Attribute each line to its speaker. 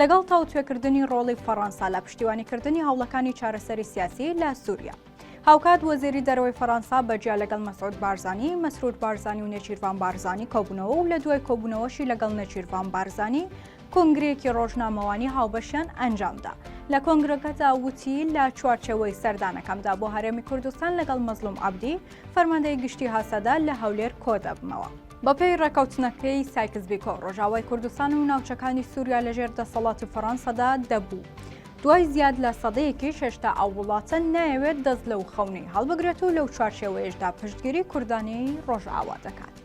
Speaker 1: لەگەڵ تاوتوێکردنی ڕۆڵی فەڕەنسا لە پشتیوانیکردنی هەوڵەکانی چارەسەری سیاسی لە سووریا. هاوکات وەزیری دەرەوەی فەرەنسا بەجیا لەگەڵ مەسعود بارزانانی مەسرود بارزانانی و نێچیرڤان بارزانانی کۆبوونەوە و لە دوای کۆبوونەوەشی لەگەڵ نێچیرڤان بارزانانی کنگرێکی ڕۆژنامەوانی هاوبەشیان ئەنجامدا لە کۆنگرەکەدا وتی لە چوارچەوەی سەردانەکەمدا بۆ هەرێمی کوردستان لەگەڵ مەزلوم عبدی فەرماندەی گشتی هاسەدا لە هەولێر کۆدەبمەوە. بەپێی ڕێکەوتنەکەی سایکس بیکۆ ڕۆژاوای کوردستان و ناوچەکانی سووریا لەژێر دەسەڵاتی فەڕەنسەدا دەبوو. دوای زیاد لە سەدەیەکی شێشتا ئەو وڵاتە نایەوێت دەست لەو خەونەی هەڵبگرێت و لەو چوارچێوەیەشدا پشتگیری کوردانی ڕۆژئاوا دەکات.